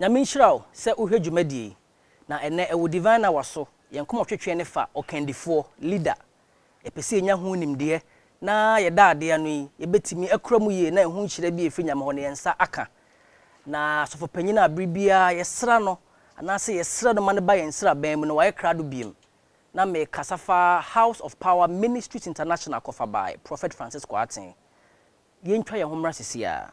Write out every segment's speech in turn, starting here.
Nyame nhyira wo sɛ wohwɛ dwumadie yi, na ɛnnɛ ɛwɔ Divine Hour so, yɛn nkɔmɔtwetweɛ no fa ɔkandifoɔ, leader. Yɛpɛ sɛ yɛnya ho nimdeɛ, na yɛda ade ano yi, yɛbɛtumi akura mu yie na ɛho nhyira bi a ɛfiri Nyame hɔ no yɛn nsa aka. Na Asɔfopanin a bere biara yɛsra no, anaasɛ yɛsrɛ no ma no ba yɛn nsraban mu no, wayɛ krado biom. Na mekasa fa House of Power Ministries International Kɔfabae, Prɔfɛt Francis Kwarteng. Yɛntwa yɛn ho mmra seesei ara.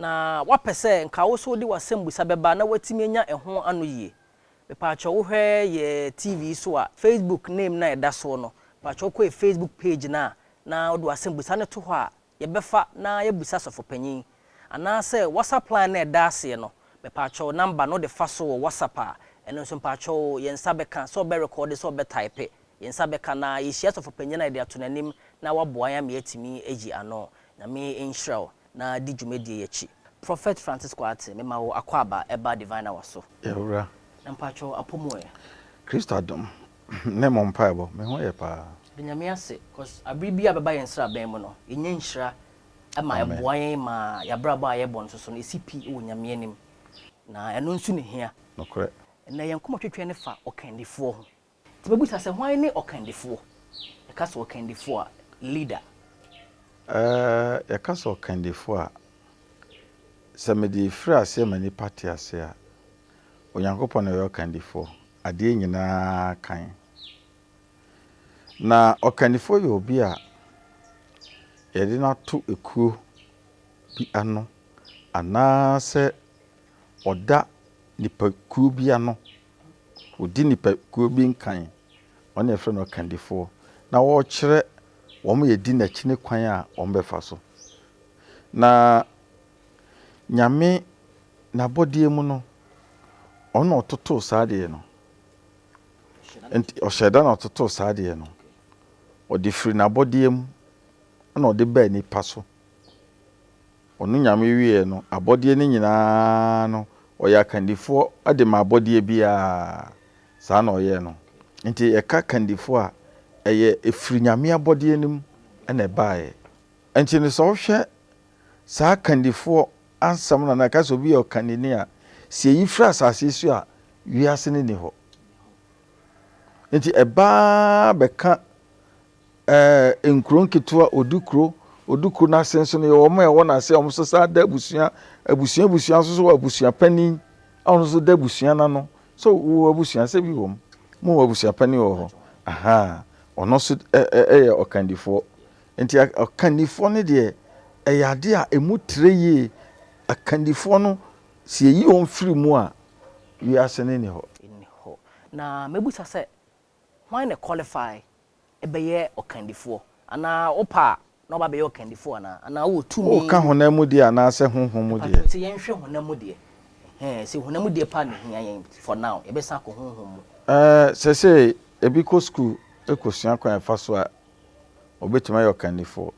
Na woapɛ sɛ nka wo nso wode w'asɛmbusa bɛba na woatumi anya ɛho anoyie? Mepaakyɛw wohwɛ yɛ TV yi so a, Facebook name no a ɛda soɔ no, mepaakyɛw kɔ yɛ Facebook page no a na wode w'asɛmbusa no to hɔ a, yɛbɛfa na yɛabusa Sɔfopanyin. Anaasɛ WhatsApp line no a ɛda aseɛ no, mepaakyɛw number no de fa so wɔ WhatsApp a, ɛno nso mepaakyɛw yɛn nsa bɛka sɛ ɔbɛ rekɔɔde sɛ ɔbɛ taipe, yɛn nsa bɛka na yɛhyia Sɔfopanyin a yɛde ato n'anim na waboa yɛn ama yɛatumi ayi ano. Nyame nhyira wo. na di dwumadie yi akyi. Prophet Francis Kwartey mema wo akwaaba ɛba Divine Hour so. Yawura. Na mpaatwɔ apɔ mu ɛ? Christ adom ne mo mpaebɔ me ho yɛ paa. Yɛda Nyame ase cos abere biara bɛba yɛn sraban mu no yɛnya nhyira ma ɛboa yɛn ma y'abrabɔ a yɛbɔ nso so no ɛsi pi wɔ Nyame anim na ɛno nso ne hia. Nokorɛ. Ɛnɛ yɛn nkɔmɔtwetwe no fa ɔkandifoɔ ho. Nti bɛbisa sɛ, Hwan ne ɔkandifoɔ? Yɛka sɛ ɔkandifoɔ a, leader. Ɛɛ, yɛka sɛ ɔkandifoɔ a, sɛ mede firi aseɛ ma nnipa te aseɛ a, Onyankopɔn na ɔyɛ ɔkandifoɔ, adeɛ nyina ara kan. Na ɔkandifoɔ yɛ obi a yɛde no ato ekuo bi ano, anaasɛ ɔda nnipakuo bi ano. wɔdi nnipakuo bi nkan, wɔn na yɛfrɛ no ɔkandifoɔ, na ɔrekyerɛ wɔn a ɛdi n'akyi no kwan a wɔbɛfa so. Na Nyame n'abɔdeɛ mu no, ɔno na ɔtotoo saa adeɛ no. Nti ɔhyɛ da na ɔtotoo saa adeɛ no. Ɔde firi n'abɔdeɛ mu na ɔde baa nipa so. Ɔno Nyame wieɛ no abɔdeɛ no nyinaa no ɔyɛ akandifoɔ de ma abɔdeɛ biara, saa na ɔyɛɛ no. Nti yɛka kandifoɔ a ɛyɛ ɛfiri Nyame abɔdeɛ no mu na ɛbaeɛ. Nti no sɛ wohwɛ saa kandifoɔ ansɛm no anaa yɛka sɛ obi yɛ ɔkandini a, sɛ yɛyi firi asase yi so a wiase no nni hɔ. Nti ɛbaa bɛka Nkuro nketewa, Odukuro, Odukuro no ase nso no yɛwɔ wɔn a ɛwɔ n'ase a wɔn nso san da abusua, abusua abusua nso so wɔ abusua panin a ɔno nso da abusua no ano. So wowɔ abusua asɛ bi wɔ mu? Mowɔ abusua panin wɔ hɔ? Ahaa, ɔno nso yɛ ɔkandifoɔ. Nti ɔkandifoɔ no deɛ ɛyɛ adeɛ a ɛmu trɛ yie. Akandifoɔ no sɛ yɛyi wɔn firi mu a, wiase no nni hɔ. Nni hɔ. Na mɛbisa sɛ, Hwan na qualify bɛyɛ ɔkandifoɔ? Anaa wopɛ a na waba abɛyɛ ɔkandifoɔ anaa? Anaa wowɔ tumi? Woka honam mu deɛ anaasɛ honhom mu deɛ? Mpakyɛw sɛ yɛnhwɛ honam mu deɛ ɛhɛɛ sɛ honam mu deɛ paa na ɛhia yɛn for now yɛbɛsan akɔ honhom mu. Ɛɛ sɛsɛɛ ebi kɔ sukuu kɔsua kwan a ɛfa so a ɔbɛtumi ayɛ ɔkandifoɔ.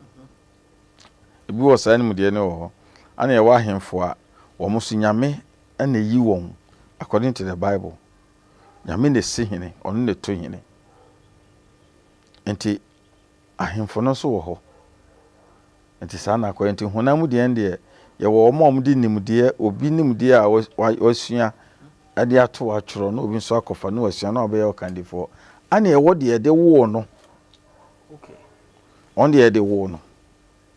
Ebi wɔ saa nimdeɛ no wɔ hɔ. Ɛna yɛwɔ ahemfo a wɔn nso Nyame na ɛyi wɔn according to the bible. Nyame na esi hene, ɔno na eto hene. Enti ahemfo no nso wɔ hɔ. Enti saa na akɔyɛ. Enti honam mu deɛ deɛ yɛwɔ wɔn a wɔde nimdeɛ, obi nimdeɛ a wasua de ato atwerɛ na obi nso akɔfa na wasua na wabɛyɛ ɔkandifoɔ. Ɛna ɛwɔ deɛ yɛde woo no. Wɔn deɛ yɛde woo no.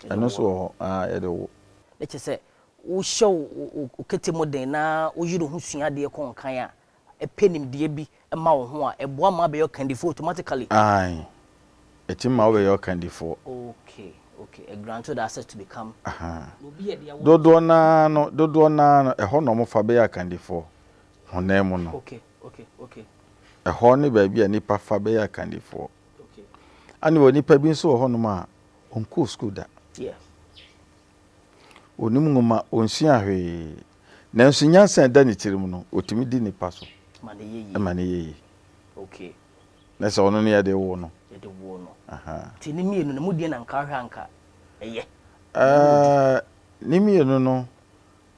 Ɛno nso wɔ hɔ. Yɛde woo. Ɛkyɛ sɛ wohyɛ wo kete mu den na woyere wo ho sua adeɛ kɔ nkan a, ɛpɛ nimdeɛ bi ma wo ho a, ɛboa ma wobɛyɛ ɔkandifoɔ automatically? Aane, ɛtumi ma wobɛyɛ ɔkandifoɔ. Ok, ok, it grants you the access to become. Ahaa, dodoɔ no ara no, dodoɔ no ara no, ɛhɔ na wɔfa bɛyɛ akandifoɔ, honam mu no. Ok, ok, ok. Ɛhɔ ne baabi a nnipa fa bɛyɛ akandifoɔ. Ok. Aane, wɔ nnipa bi nso wɔ hɔnom a, wɔnkɔɔ sukuu da. Yes. Onim nwoma, onsua hwee, nanso nyansa a ɛda ne tirim no, otumi di nnipa so ma no yɛ yie. Na sɛ ɔno na yɛde woo no. Yɛde woo no. Nti ne mmienu no, mu deɛn na anka wohwɛ a anka ɛyɛ? Ne mmienu no,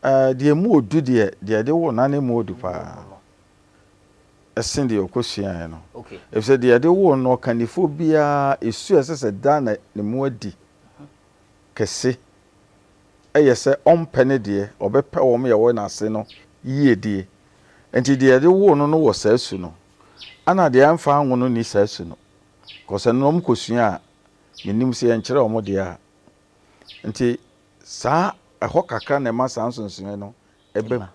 deɛ emu wɔ du deɛ, deɛ yɛde woo no, na na emu wɔ du pa ara ɛsen deɛ ɔkɔsuaeɛ no. Ɛfiri sɛ deɛ yɛde woo no no, ɔkandifoɔ biara, su a ɛsɛ sɛ daa na ne mu adi. kɛse yɛ sɛ ɔmpɛ ne deɛ, ɔbɛpɛ wɔn a wɔwɔ n'ase no yiedie. Enti deɛ ɛde woo no no wɔ saa su no, ɛna deɛ ɛmfa anwo no nni saa su no. Kɔsɛ no na wɔkɔsua a, mennim sɛ yɛnkyerɛ wɔn deɛ a. Enti saa ɛhɔ kakra na ɛma saa nsonsonoeɛ no ba mu.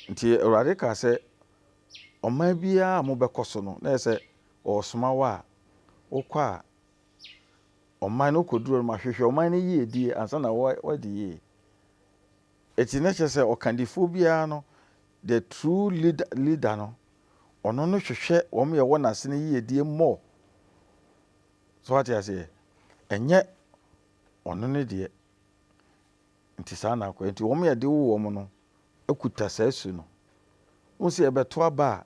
Enti Awurade kaa sɛ, Ɔman biara a mobɛkɔ so no, na ɛyɛ sɛ wɔresoma wo a, wokɔ a, ɔman no kɔduru hɔ no ma hwehwɛ ɔman no yiedie ansa na woadi yie. Ɛti na kyerɛ sɛ ɔkandifoɔ biara no the true leader leader no ɔno no hwehwɛ wɔn yɛ wɔ n'ase no yiedie more. So wate aseɛ ɛnyɛ ɔno ne deɛ nti saa na akɔ nti wɔn yɛ de wo wɔn no akuta saa su no. Wo sɛ ɛbɛto aba a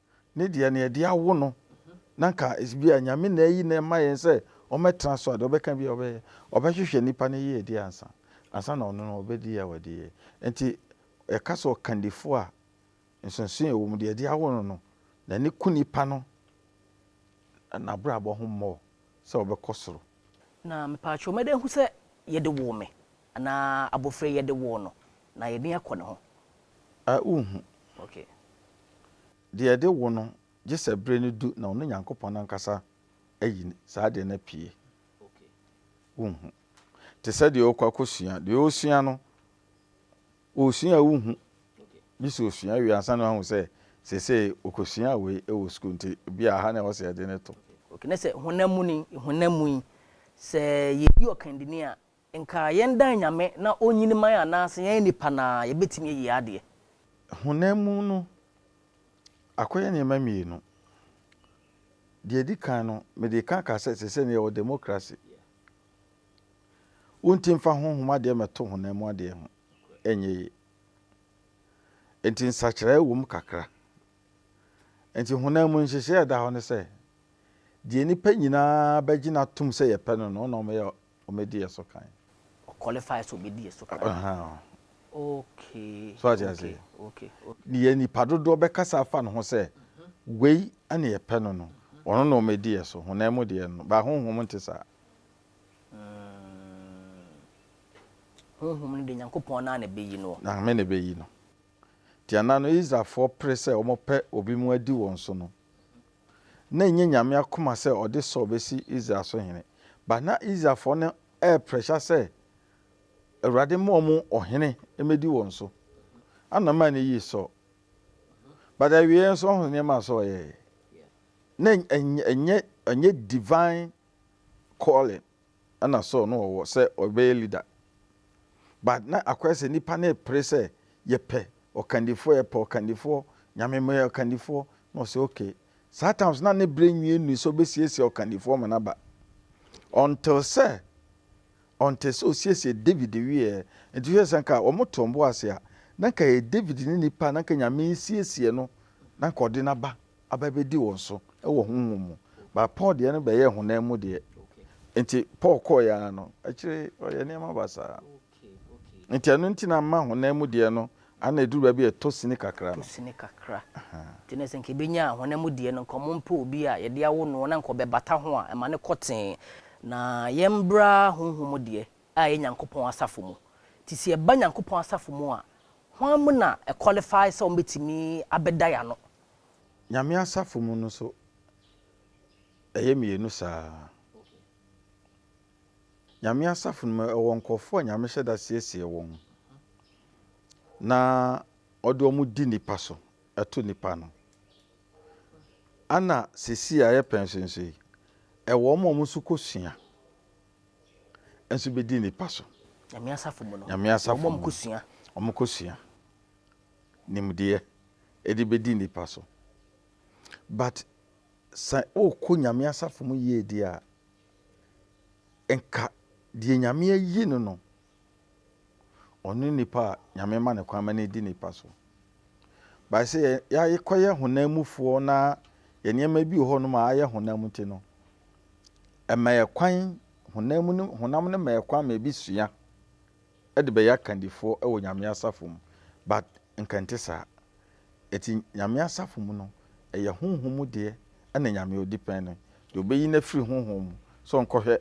ne deɛ nea ɛde awo no na anka ebi a Nyame na ayi no ɛma yɛn sɛ ɔmmɛtena so a deɛ ɔbɛka bi a ɔbɛyɛ ɔbɛhwehwɛ nipa no yiedie ansa ansa na ɔno no ɔbɛdi a wadi yɛ nti yɛka sɛ ɔkandifo a nsonsonoɛ wɔ mu deɛ ɛde awo no no n'ani ku nipa no n'abrabɔ ho mmɔɔ sɛ ɔbɛkɔ soro. Na mepaakyɛw mɛda ahu sɛ yɛde woo me. Anaa abofra yi yɛde woo no na yɛde no akɔ ne ho. A Wonhu. Okay. Deɛ yɛde wo no, gye sɛ bere no du na ɔno Nyankopɔn ankasa ayi saa adeɛ no apue. Okay. Wonhu. Te sɛ deɛ ɔrekɔ akɔsua. Deɛ ɔresua no, ɔresua a wonhu. Okay. Gye sɛ ɔsua wie ansa na wahu sɛ seesei ɔkɔsuaa wei wɔ sukuu nti bi a ha na ɛwɔ sɛ yɛde no to. Okay. Na sɛ honam mu ni, honam mu yi, sɛ yɛyi ɔkandini a, Nka yɛn dan Nyame na ɔnyini man anaase yɛn nnipa naa yɛbɛtumi ayie adeɛ. Honam mu no akɔyɛ nneɛma mmienu. Deɛ ɛdi kan no mede ka ka sɛ sɛsɛ no yɛwɔ democracy. Wonti mfa honhom adeɛ mɛto honam mu adeɛ ho ɛnyɛ yie. Nti nsakyeraɛ wɔ mu kakra. Nti honam mu nhyehyɛɛ a ɛda hɔ ne sɛ deɛ nnipa nyinaa bɛgyina atom sɛ yɛpɛ no no na wɔyɛ Ɔmɛdi yɛ so kan. Ɔ qualify sɛ ɔbɛdi yɛ so kan. Ahaa. Okay. So ate aseɛ? Okay, okay, okay. Deɛ nnipa dodoɔ bɛkasa afa ne ho sɛ wei na yɛpɛ no no, ɔno na ɔmɛdi yɛ so. Honam mu deɛ no, but honhom nte saa. Mm. Honhom no deɛ Nyankopɔn no ara na ɛbɛyi noɔ. Nyame na ɛbɛyi no. Deɛ na no Israelfoɔ pere sɛ wɔpɛ obi mu adi wɔn so no, na ɛnyɛ Nyame akoma sɛ ɔde Saul bɛsi Israel so hene, but na Israelfoɔ no ɛɛprɛsha sɛ Awurade mma wɔn ɔhene mmɛdi wɔn so. Ana maa no yii Saul. But awieɛ nso ɔho nneɛma a Saul yɛɛ. Na ɛnyɛ, ɛnyɛ, ɛnyɛ divine calling. na Saul no ɔwɔ sɛ ɔbɛyɛ leader but na akɔyɛ sɛ nipa no repere sɛ yɛpɛ ɔkandifoɔ yɛpɛ ɔkandifoɔ Nyame meyɛ ɔkandifoɔ na ɔsɛ okay saa times na ne berɛ nwie nnui sɛ ɔbɛsiesie ɔkandifoɔ ma no aba until sɛ until sɛ ɔsiesie David wieɛ nti hwɛ sɛ nka wɔn to wɔn bo ase a na nka yɛ David ne nipa na nka Nyame siesie no na nka ɔde no aba aba bedi wɔn so wɔ honhom mu, but Paul deɛ no bɛyɛɛ honam mu deɛ. Nti Paul kɔɔeɛ ara no, akyire yi ɔyɛɛ nneɛma basaa. Nti ɛno nti na ama honam mu deɛ no ana ɛduru baabi a ɛtɔ sini kakra no. Ɛtɔ sini kakra. Nti na sɛ nka ɛbɛnya honam mu deɛ no, nka wɔmpɛ obi a yɛde awo noɔ na nka ɔbɛbata ho a, ɛma no kɔ tee. Na yɛmmra honhom mu deɛ a ɛyɛ Nyankopɔn asafo mu. Nti sɛ yɛba Nyankopɔn asafo mu a, hwan mu na ɛ-qualify sɛ wɔbɛtumi abɛda yɛn ano Nyame asafo mu no nso ɛyɛ mmienu saa ara. Nyame asafo no mu ɛwɔ nkorɔfoɔ a Nyame hyɛ da siesie wɔn na ɔde wɔn di nnipa so, ɛto nnipa ano. Ɛna sesei a yɛpɛ nso nso yi, ɛwɔ wɔn a wɔn nso kɔsua nso bɛdi nnipa so. Nyame asafo mu no, Nyame asafo wɔn a wɔkɔsua. Wɔn kɔsua. nimdeɛ de bɛdi nnipa so but sɛ wokɔ Nyame asafo mu yie deɛ a, nka deɛ Nyame ayi no no, ɔno ne nipa a Nyame ma no kwan ma no di nnipa so. But sɛ yɛakɔyɛ honam mufoɔ na yɛ nneɛma bi wɔ hɔ nom a ayɛ honam nti no, ɛma yɛ kwan, honam no, honam no ma yɛ kwan ma ebi sua. de bɛyɛ akandifoɔ wɔ Nyame asafo mu but nka ɛnte saa. Ɛti Nyame asafo mu no ɛyɛ honhom mu deɛ ɛna Nyame ɔdi pɛn no deɛ ɔbɛyi no afiri honhom mu sɛ ɔnkɔhwɛ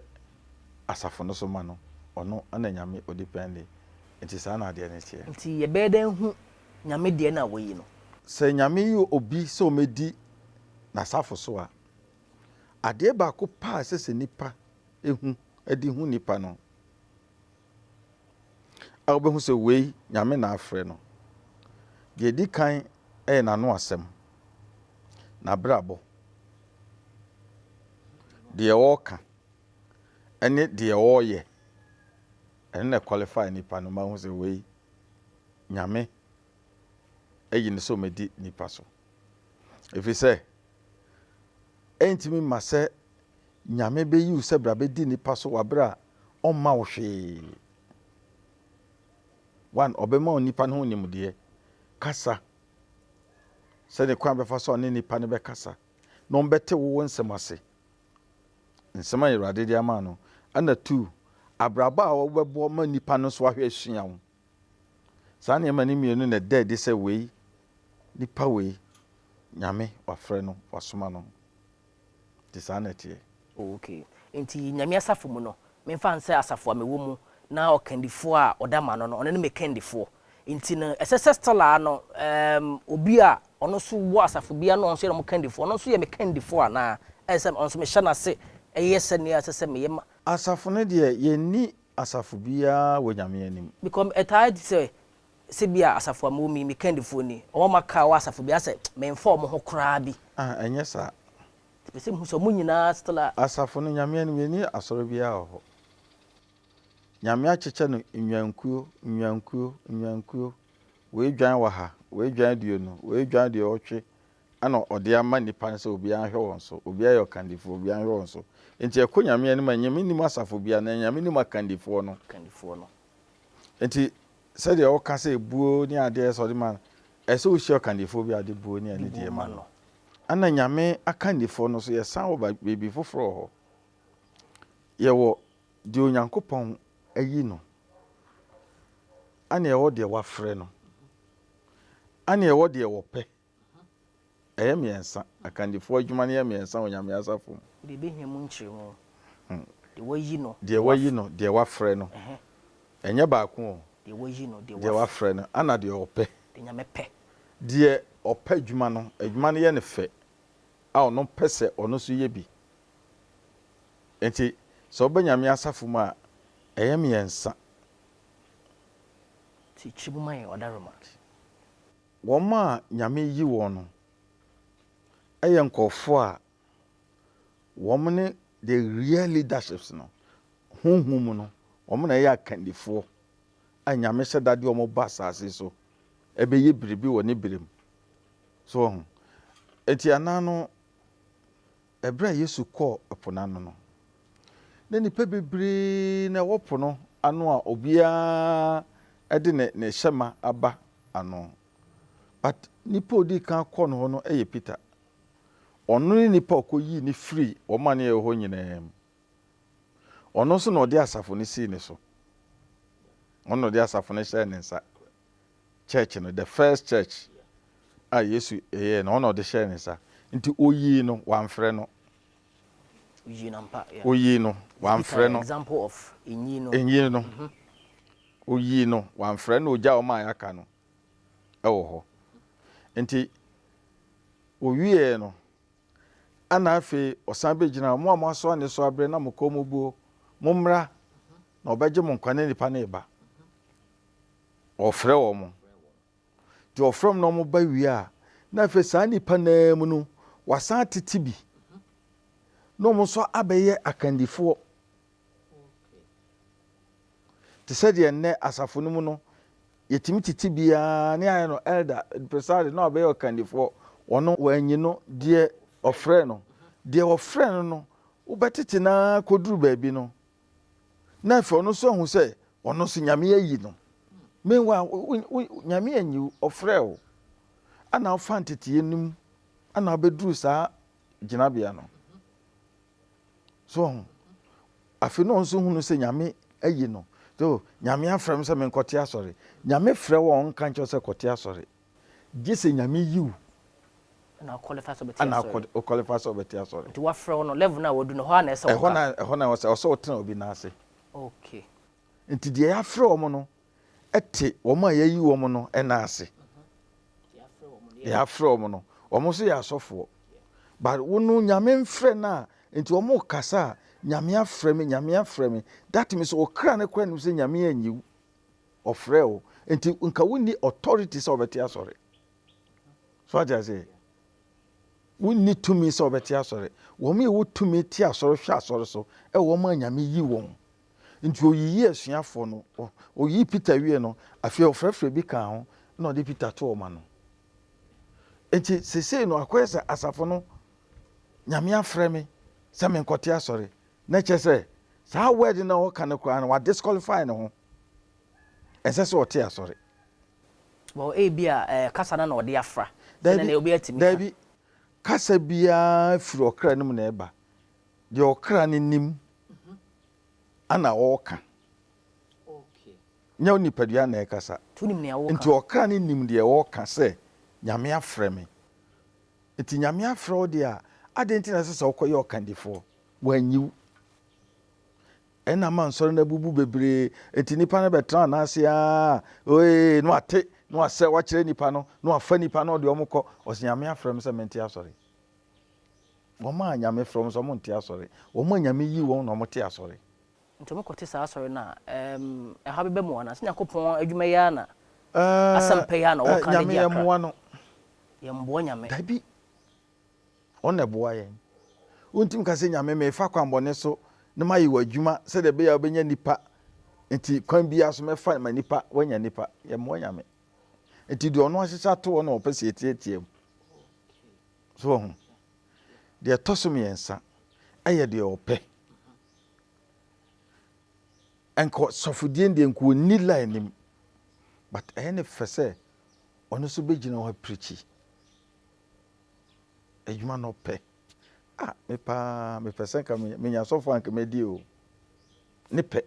asafo no so ma no ɔno ɛna Nyame ɔdi pɛn deɛ ɛti saa na adeɛ no teɛ. Nti yɛbɛyɛ dɛn ahu Nyame deɛ na wayi no? Sɛ Nyame yi obi sɛ ɔmɛdi N'asafo so a, adeɛ baako paa ɛsɛ sɛ nipa hu de hu nipa no, a wobehu sɛ wei Nyame na afrɛ no. Deɛ edi kan yɛ n'ano asɛm, n'abrabɔ, deɛ ɔreka ne deɛ ɔreyɛ. Ɛno na ɛqualify nipa no ma wohu sɛ wei Nyame ayi no sɛ ɔmmɛdi nipa so. Ɛfiri sɛ, ɛntumi mma sɛ Nyame beyi wo sɛ bra bɛdi nnipa so w'aberɛ a ɔmma wo hwee. One, ɔbɛma wo nnipa no ho nimdeɛ. Kasa. Sɛdeɛ kwan a bɛfa so a ɔne nnipa no bɛkasa. Na ɔmbɛte wo wo nsɛm ase. Nsɛm a Awurade de ama no. Ɛna two, abrabɔ a wobɛbɔ ma nnipa no nso ahwɛ asua wo. Saa nneɛma no mmienu na ɛda adi sɛ wei, nnipa wei, Nyame wafrɛ no, wasoma no. Nti saa na ɛteɛ. Oh ok. Nti Nyame asafo mu no, memfa no sɛ asafo a mewɔ mu na ɔkandifoɔ a ɔda m'ano no, ɔno ne me kandifoɔ. Nti no, ɛsɛ sɛ still ara no, ɛɛm, obi a ɔno nso wɔ asafo bi ara na ɔno nso yɛ wɔn kandifoɔ, ɔno nso yɛ me kandifoɔ anaa? Ɛyɛ sɛ ɔno nso mehyɛ no ase yɛ sɛdeɛ ɛsɛ sɛ meyɛ ma. Asafo no deɛ, yɛnni asafo biara wɔ Nyame anim. Because ɛtaa di sɛ, Sɛ bi a asafo a mewɔ mu yi, me kandifoɔ ni. Wɔn a wɔaka a wɔwɔ asafo biara sɛ memfa wɔn ho koraa bi. A, ɛnyɛ saa. Mepɛ sɛ mehu sɛ wɔn nyinaa still a. Asafo no, Nyame anim, yɛnni asɔre biara wɔ hɔ. Nyame akyekyɛ no nnwankuo, nnwankuo, nnwankuo. Wei dwan wɔ ha, wei dwan aduonu, wei dwan aduɔwɔtwe, ɛna Ɔde ama nnipa no sɛ obiara nhwɛ wɔn so. Obiara yɛ ɔkandifoɔ, obiara nhwɛ wɔn so. Enti ɛkɔ Nyame anim a, Nyame nnim asafo biara, na Nyame nim akandifoɔ no. Akandifoɔ no. Nti sɛdeɛ woka sɛ buo ne adeɛ sɛ ɔde ma no, ɛsɛ sɛ wohyia ɔkandifoɔ bi a ɔde buo ne anidie ma no. Ɛna Nyame akandifoɔ no nso yɛsan wɔ baabi foforɔ wɔ hɔ. Yɛwɔ deɛ Onyankopɔn ayi no, ɛna yɛwɔ deɛ wafrɛ no, ɛna yɛwɔ deɛ wɔpɛ, Ɛyɛ mmiɛnsa. Akandifoɔ adwuma no yɛ mmiɛnsa wɔ Nyame asafo mu. Deɛ ɛbɛhia mu nkyerɛmu. Deɛ wayi no. Deɛ wayi no, deɛ wafrɛ no. Ɛnyɛ baako o. Deɛ wayi no, deɛ wafrɛ no. Ana deɛ ɔpɛ. Deɛ Nyame pɛ. Deɛ ɔpɛ adwuma no, adwuma no yɛ no fɛ a ɔno pɛ sɛ ɔno nso yɛ bi. Enti sɛ woba Nyame asafo mu a, ɛyɛ mmiɛnsa. Ti kyerɛ mu ma yɛn, Ɔdaroma. Wɔn a Nyame reyi wɔn no yɛ nkurɔfoɔ a wɔn ne the real leaderships no, honhom mu no, wɔn na ɛyɛ akandifoɔ a Nyame hyɛ da de wɔn ba asaase so bɛyɛ biribi wɔ ne berɛ mu. So wɔho? Enti ɛna no, Bere a Yesu kɔɔ po no ano no, na nnipa bebree na ɛwɔ po no ano a obiara de ne ne hyɛ ma aba ano. But nipa a odii kan kɔɔ no hɔ no yɛ Peter. Ɔno ne nipa a ɔkɔyii no firii wɔn a na ɛwɔ hɔ nyinaa mu. Ɔno nso na ɔde asafo no sii ne so. Ɔno na ɔde asafo no hyɛɛ ne nsa. church no, the first church a Yesu yɛɛ no, ɔno na ɔde hyɛɛ ne nsa. Nti oyii no, wamfrɛ no. Oyii no ampa, yeah. Oyii no, wamfrɛ no. Example of enyi no. Enyi no. Mhm. Oyii no, wamfrɛ no, ogya wɔn a yɛaka no wɔ hɔ. Nti owiee no, ana afei ɔsan begyina wɔn a moasoa ne so abrɛ na mo kɔn mu buo, mommra na ɔbɛgye mo nkwa na nipa no reba. Wɔfrɛ wɔn. Nti wɔfrɛ wɔn na wɔn ba wie a, na afei saa nnipa no ara mu no, wɔasan atete bi na wɔn nso abɛyɛ akandifoɔ. Te sɛ deɛ nnɛ asafo no mu no, yɛtumi tete bi ara ne ayɛ no elder, presare na wabɛyɛ ɔkandifoɔ. Ɔno wɔanyi no, deɛ wɔfrɛ no. Deɛ wɔfrɛ no no, wobɛtete no ara kɔduru baabi no, na afei ɔno nso ahu sɛ ɔno nso Nyame ayi no. Meanwhile, Nyame anyi wo, ɔfrɛɛ wo, ana wofa nteteyɛ no mu, ana wobɛduru saa gyinabea no. So ɔho, afei na ɔno nso hunu sɛ Nyame ayi no. So, Nyame afrɛ me sɛ menkɔte asɔre. Nyame frɛ wo a ɔnka nkyerɛ sɛ kɔte asɔre. Gye sɛ Nyame yi wo. Ɛna wo qualify sɛ wobɛte asɔre. Ɛna wo qualify sɛ wobɛte asɔre. Nti wafrɛ wo no, level no a wadu no, ɛhɔ ara na ɛsɛ wo ka. Ɛhɔ na ɛsɛ wo tena obi nan ase. Okay. Nti deɛ yɛafrɛ wɔn no te wɔn a yɛayi wɔn no nan ase. Deɛ yɛafrɛ wɔn no, wɔn nso yɛ asɔfoɔ. But wo no, Nyame mfrɛ no a, nti wɔn rekasa a, Nyame afrɛ me, Nyame afrɛ me. That means wo kra no koraa nim sɛ Nyame anyi wo. Ɔfrɛɛ wo nti nka wonni authority sɛ ɔbɛte asɔre. So ate aseɛ? Wonni tumi sɛ ɔbɛte asɔre. Wɔn yɛ wɔ tumi te asɔre hwɛ asɔre so ɛwɔ wɔn a Nyame yi wɔn. Nti oyiyi asuafoɔ no. Oyii Peter wie no, afei ɔfrɛfrɛ bi kaa ho na ɔde Peter too ɔma no. Nti sesei no akɔyɛ sɛ asafo no Nyame afrɛ me sɛ menkɔte asɔre. Na ɛkyerɛ sɛ saa word no a ɔka no koraa no wa disqualify ne ho. Ɛnsɛ sɛ ɔte asɔre. Well, ebia ɛɛ kasa no na ɔde afra. Sɛ nɛnɛ obi atumi ka. Daabi, kasa biara firi ɔkra no mu na ɛba. Deɛ ɔkra no nim ana ɔreka. Nyɛ wo nipadua na ɛkasa. To nim nea ɔreka. Nti ɔkra no nim deɛ ɔreka sɛ Nyame afrɛ me. Nti Nyame afrɛ wo deɛ a, adɛn nti na ɛsɛ sɛ wokɔyɛ ɔkandifoɔ? Wɔanyi wo. Ɛnna ama nsɔre no abubu bebree. Enti nnipa no bɛtenaa no ase ara, oee, na wɔate, na wɔasɛ, wɔakyerɛ nnipa no, na wɔafa nnipa no, wɔde wɔn kɔ. Ɔse, Nyame afrɛ me sɛ mente asɔre. Wɔn a Nyame frɛ wɔn sɛ wɔnte asɔre, wɔn a Nyame yii wɔn na wɔte asɔre. Nti wɔkɔte saa asɔre no a, erm, ɛhaw bɛba mu anaa? Sɛ Nyankopɔn adwuma yi ara na, Erm, asɛmpa yi ara na wɔka na Nyame, agye akra? yɛmmoa no. Yɛmmoa Nyame. Dabi. Ɔno na ɛboa yɛn. Wontumi nka sɛ, Nyame, merefa kwammɔne so na mayɛ w'adwuma sɛdeɛ ɛbɛyɛ a wobɛnya nnipa, nti kwan biara so mɛfa ma nnipa, woanya nnipa. Yɛmmɔ Nyame. Nti deɛ Ɔno ahyehyɛ ato hɔ no na Ɔpɛ sɛ yɛteatea mu. So wahu? Deɛ ɛtɔ so mmiɛnsa, ɛyɛ deɛ Ɔpɛ. Nka sɔfodie no deɛ nka ɔnni la anim, but ɛyɛ no fɛ sɛ ɔno nso bɛgyina hɔ apirikyi. adwuma na ɔpɛ ah me paa mepɛ sɛ nka menya sɔfo a nka mɛdi o ne pɛ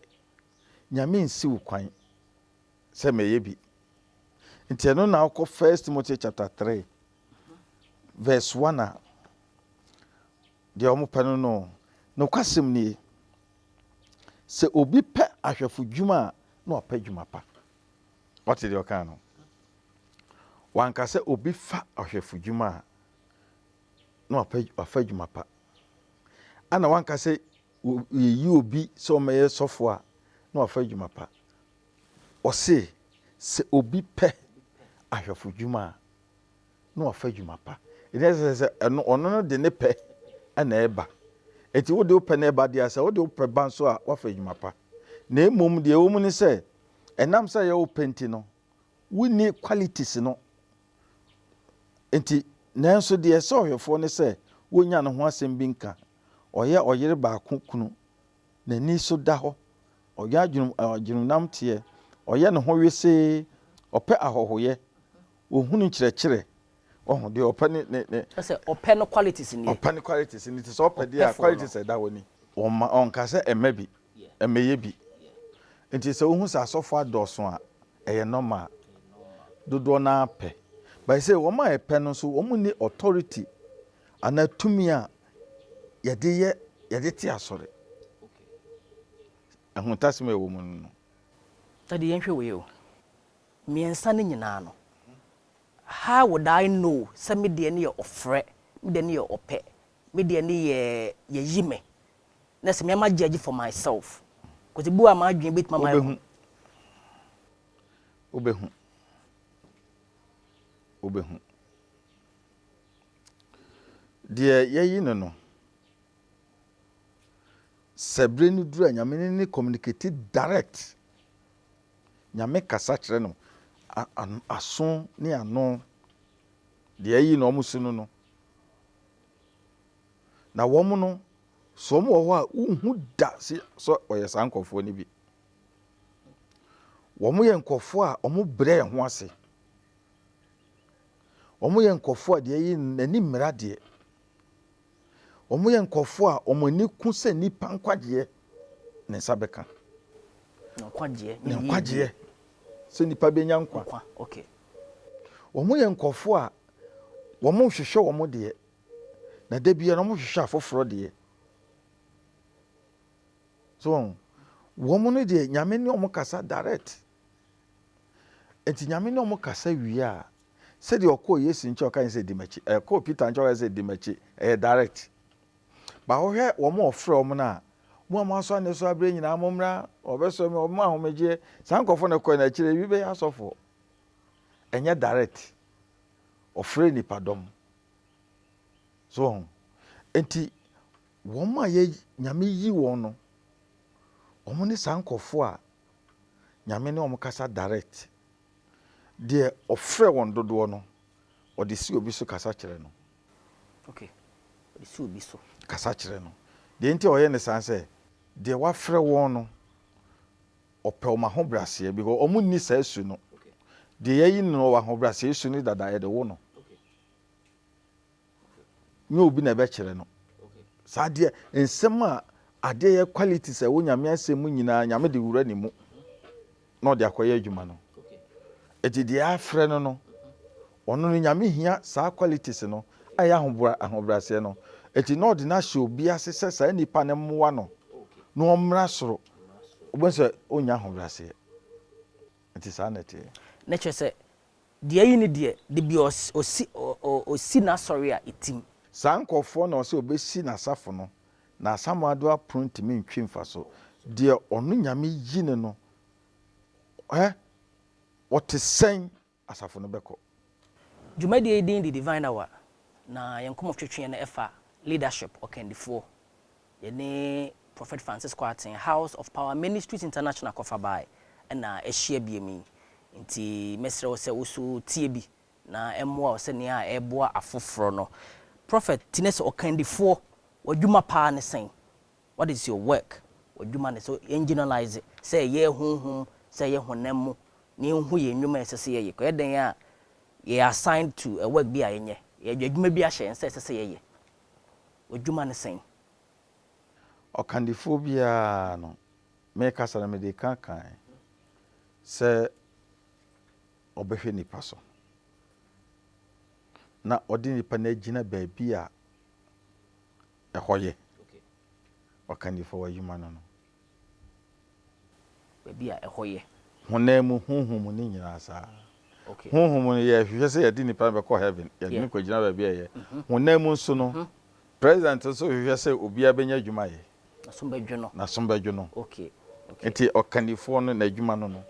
nyame nsi wo kwan sɛ mɛyɛ bi nti ɛno na wokɔ first timothy chapter 3 verse 1 a deɛ ɔmo pɛ no no nokwasɛm nie sɛ obi pɛ ahwɛfo dwuma a na ɔpɛ dwuma pa wate deɛ ɔkaa no Wanka sɛ obi fa ɔhwɛfodwuma a, na wapɛ wafa adwuma pa. Ana wanka sɛ yɛyi obi sɛ ɔmmɛyɛ sɔfo a, na wafa adwuma pa. Ɔse, sɛ obi pɛ ahwɛfodwuma a, na wafa adwuma pa. Ɛnti na ɛsɛ sɛ ɛno ɔno no de ne pɛ na ɛba. Ɛnti wode wopɛ na ɛba deɛ a, sɛ wode wopɛ ba nso a, woafa adwuma pa. Na mmom deɛ ɛwɔ mu ne sɛ, ɛnam sɛ ɛyɛ wo pɛ nti no, Wonni qualities no nti. Nanso deɛ ɛsɛ ɔhwɛfoɔ no sɛ wonnya ne ho asɛm bi nka. Ɔyɛ ɔyere baako kunu. N'ani so da hɔ. Ɔwɛn adwenem adwenemnam teɛ. Ɔyɛ ne ho wesee. Ɔpɛ ahɔhoyɛ. Ɔhunu nkyerɛkyerɛ. Wahu deɛ ɔpɛ ne ne ne. Sɛ ɔpɛ no qualities nie. Ɔpɛ no qualities nie ti sɛ ɔpɛ deɛ a qualities ɛda hɔ ni. Ɔma ɔnka sɛ ɛmɛ bi, ɛmɛ yɛ bi. Nti sɛ wohu sɛ asɔfo adɔɔso a ɛyɛ normal. Dodoɔ no ara pɛ. But sɛ wɔn a ɛpɛ no nso wɔn nni authority anaa tumi a yɛde yɛ yɛde te asɔre. Ahuntasem a ɛwɔ mu no no. Daddy yɛnhwɛ wei o. Mmiɛnsa no nyinaa no How would I know sɛ me deɛ no yɛ ɔfrɛ, me deɛ no yɛ ɔpɛ, me deɛ no yɛ yɛyi me, na sɛ me ara ma judge for myself? Cause ebi wɔ a m'adwene bɛtumi ama yɛ. Wobɛhu. Wobɛhu. Wobɛhu. Deɛ yɛyi no no, sɛ berɛ no duru a Nyame ne ne communicate direct Nyame kasa kyerɛ no aso ne ano deɛ ayi na wɔn si no no na wɔn no so wɔn wɔ hɔ a wohu da si sɛ ɔyɛ saa nkurɔfoɔ no bi wɔn yɛ nkurɔfoɔ a wɔn brɛ ho ase wɔn yɛ nkurɔfoɔ a deɛ ayi n'ani mmira deɛ. Wɔyɛ nkurɔfoɔ a wɔn ani ku sɛ nnipa nkwagyeɛ ne nsa bɛka. Nkwagyeɛ. Ne nkwagyeɛ. Sɛ nnipa bɛnya nkwa. Nkwa, okay. Wɔyɛ nkurɔfoɔ a wɔnhwehwɛ wɔn deɛ, na da biara wɔhwehwɛ afoforɔ deɛ. So wɔn no deɛ Nyame ne wɔn kasa direct. Enti Nyame ne wɔn kasa wie a, sɛdeɛ ɔkɔɔ Yesu nkyɛn ɔka ne sɛ di m'akyi, ɛɛ kɔɔ Peter nkyɛn ɔka ne sɛ di m'akyi, ɛyɛ direct. Ba wohwɛ wɔn a ɔfrɛ wɔn no a, mo a moasɔ anesoa abrɛ nyinaa mommra, wɔbɛsɔ me, wɔbɛma ahomegyeɛ, saa nkorɔfoɔ no kɔɛ no akyire no ebi bɛyɛ asɔfoɔ. Ɛnyɛ direct, ɔfrɛ nnipa dɔm. So wɔn? Enti wɔn a yɛ Nyame yi wɔn no, wɔn ne saa nkorɔfoɔ a Nyame ne wɔn kasa direct. Deɛ ɔfrɛ wɔn dodoɔ no, ɔde si obi so kasa kyerɛ no. Ok, ɔde si obi so. Kasa kyerɛ no. Deɛ nti a ɔyɛ ne saa ne sɛ, deɛ wafrɛ wɔn no, ɔpɛ wɔn ahobrɛaseɛ because wɔn nni saa su no. Deɛ yɛayi no no, ɔwɔ ahobrɛaseɛ su no dada, yɛde wo no. nyɛ obi na ɛbɛkyerɛ no. Saa adeɛ, nsɛm a adeɛ yɛ qualities a ɛwɔ nyame asɛm mu nyinaa, nyame de wura ne mu na ɔde akɔyɛ adwuma no. Ɛti deɛ afrɛ no no, ɔno no nyame hia saa qualities no a ɛyɛ ahobra ahobraseɛ no. Ɛti na ɔde no ahyɛ obi ase sɛ saa nipa no mmoa no na ɔmmra soro. Wobɛhu sɛ ɔnya ahobraseɛ. Ɛti saa na ɛteɛ. Na kyerɛ sɛ Deɛ ayi no deɛ, dabi ɔsi ɔsi n'asɔre a etim. Saa nkorɔfoɔ na ɔsɛ ɔbɛsi n'asafo no, na Asamoah Doe apono ntumi ntwi mfa so. Deɛ ɔno Nyame yi no no ɛ, ɔte sɛn asafo no bɛkɔ? Dwumadie yi din de Divine Hour, na yɛn nkɔmmɔtwetweɛ no fa Leadership, Ɔkandifoɔ. Yɛne Prɔfɛt Francis Kwarteng, House of Power Ministries International kɔfa bae na ahyia biom yi. Nti mɛsrɛ wo sɛ wo nso tie bi na ɛmmoa wo sɛnea ɛreboa afoforɔ no. Prɔfɛt, ti ne sɛ ɔkandifoɔ, w'adwuma paa ne sɛn? What is your work? W'adwuma ne sɛ yɛn generalise, sɛ ɛyɛ honhom, sɛ ɛyɛ honam mu, na yɛnhu yɛn nnwuma a ɛsɛ sɛ yɛyɛ. Ɛyɛ dɛn a yɛyɛ assigned to a work bi a yɛnyɛ, yɛde adwuma bi ahyɛ yɛn nsa a ɛsɛ sɛ yɛyɛ. W'adwuma ne sɛn? Ɔkandifoɔ biara no, me kasa no mede ka kan sɛ ɔbɛhwɛ nipa so na ɔde nipa no agyina baabi a ɛhɔ yɛ. Ɔkandifoɔ w'adwuma no no. Baabi a ɛhɔ yɛ. Honam mu, honhom mu, ne nyinaa saa. Honhom mu no, yɛhwehwɛ sɛ yɛde nnipa no bɛkɔ heaven, yɛde no kɔgyina baabi a ɛyɛ. Honam mu nso no, President nso hwehwɛ sɛ obiara bɛnya adwuma ayɛ. N'asom bɛdwo no. N'asom bɛdwo no. Nti ɔkannifoɔ no, n'adwuma no no.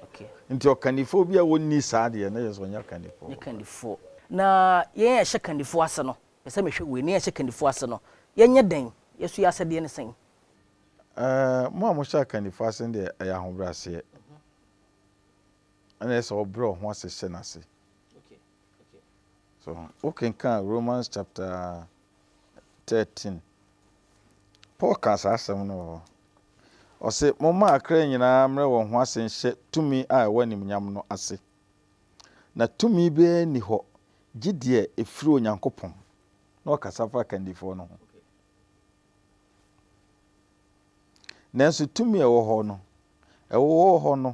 Nti ɔkannifoɔ bi a ɔnni saa deɛ, na kyerɛ sɛ ɔnyɛ ɔkannifoɔ. Ɔnyɛ kannifoɔ. Na yɛn a yɛhyɛ kannifoɔ ase no, mepɛ sɛ mehwɛ wei, na yɛn a yɛhyɛ kannifoɔ ase no, yɛnyɛ dɛn? Yɛn so yɛn asɛdeɛ ne sɛn? Mo a mohyɛ akannifo ase no deɛ, ɛyɛ ahobrɛaseɛ, ɛna ɛyɛ sɛ wobrɛ wo ho ase hyɛ no ase. So, wokenkan Romans chapter 13, Paul kaa saa asɛm no wɔ hɔ. Ɔse, momma akra nyinaa mmerɛ wɔn ho ase nhyɛ tumi a ɛwɔ animuonyam no ase. Na tumi biara nni hɔ gye deɛ ɛfiri Onyankopɔn. Na ɔkasa fa akandifoɔ no ho. Nanso tumi a ɛwɔ hɔ no, ɛwɔ hɔ no,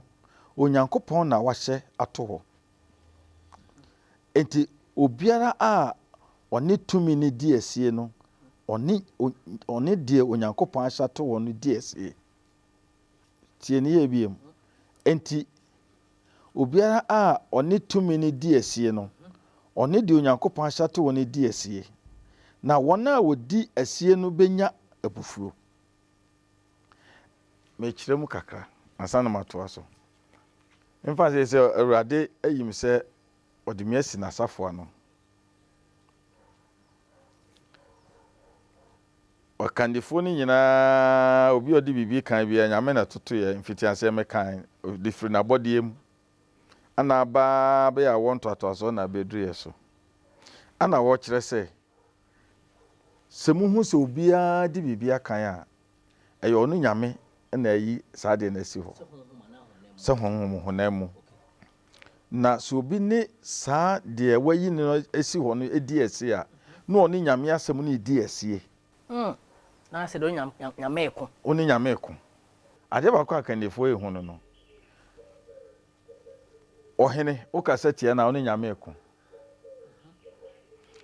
Onyankopɔn na wahyɛ ato hɔ. Enti obiara a ɔne tumi no di asie no, ɔne ɔne deɛ Onyankopɔn ahyɛ ato hɔ no di asie. Tie ne yɛ bio. Enti Obiara a ɔne tumi no di asie no, ɔne deɛ Onyankopɔn ahyɛ ato wɔn no di asie, na wɔn a wɔdi asie no bɛnya abufuo. Mekyerɛ mu kakra ansa na matoa so. Mfa sɛ sɛ Awurade ayi me sɛ ɔde me asi n'asafo ano. Ɔkandifoɔ no nyinaa, obi a ɔde biribi kan biara, Nyame na ɛtotoeɛ, mfitiaseɛ mekan, ɔde firi n'abɔdeɛ mu, ɛna aba ara bɛyɛ awoɔ ntoatoasoɔ na abɛduru yɛn so. Ɛna wɔkyerɛ sɛ, sɛ mohu sɛ obiara de biribi akan a, ɛyɛ ɔno Nyame na ayi saa adeɛ no asi hɔ, sɛ honhom honam mu. Na sɛ obi ne saa deɛ wayi no asi hɔ no di asie a, na ɔne Nyame asɛm no redi asie. Hmm. Na sɛ deɛ ɔne Nyame, Nyame reko. Ɔne Nyame reko. Adeɛ baako a akannifoɔ yi hu no no, ɔhene, wokasa tia no a, ɔne Nyame reko.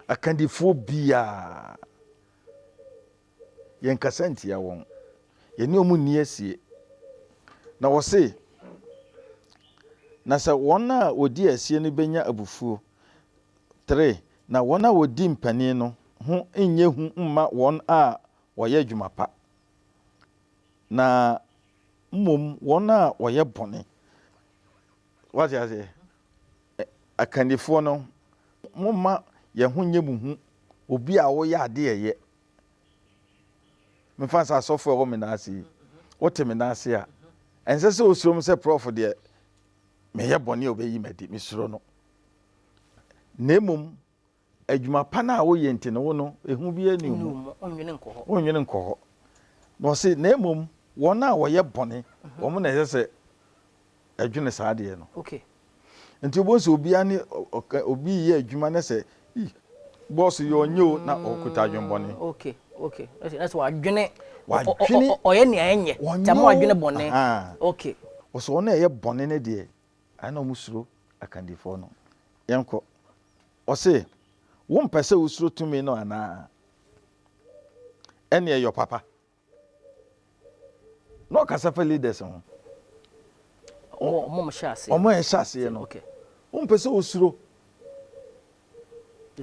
Akannifoɔ biara, Yɛnkasa ntia wɔn. Yɛne wɔn nni asie. Na wɔse, Na sɛ wɔn a wɔdi asie no bɛnya abufuo, tere, na wɔn a wɔdi mpanin no ho nyɛ hu mma wɔn a wɔyɛ adwuma pa, na mmom wɔn a wɔyɛ bɔne. Woate aseɛ? Akannifoɔ no, momma yɛn ho nyɛ mo hu, obi a woyɛ adeɛ yɛ Mefa no sɛ asɔfo a ɛwɔ me nan ase yi, wote me nan ase a, ɛnsɛ sɛ wosuro me sɛ prɔfo deɛ meyɛ bɔne a obeyi me adi. Mesuro no. Na mmom adwuma pa no a woyɛ nti no, wo no, ehu biara nni wo ho. Wonnwene nkɔ hɔ. Na ɔse, na mmom wɔn a wɔyɛ bɔne, wɔn na ɛsɛ sɛ ɛdwene saa adeɛ no. Okay. Nti wobɛhu sɛ obiara ne ɔka obi reyɛ adwuma na sɛ ii bɔɔso yɛ ɔnyɛ o na ɔkuta adwenbɔne. Mm, okay, okay. Ɛsɛ ɛsɛ wadwene. Ɔ- ɔ- ɔ- Wadwene. ɔ- Ɔyɛ nea ɛnyɛ. Wɔnyɛ Nti ama o. wadwene bɔne. Ahaa. Okay. Wɔsɛ wɔn a ɛyɛ bɔne no deɛ ɛyɛ na wɔn suro akandifoɔ no. Yɛnkɔ. Ɔse wompɛ sɛ wosuro tumi no anaa? Ɛneɛ yɔ papa. na ɔkasa fa leaders ho. Wɔn a wɔhyɛ aseɛ. Wɔn a ɛhyɛ aseɛ no. Okay. Wompɛ sɛ osuro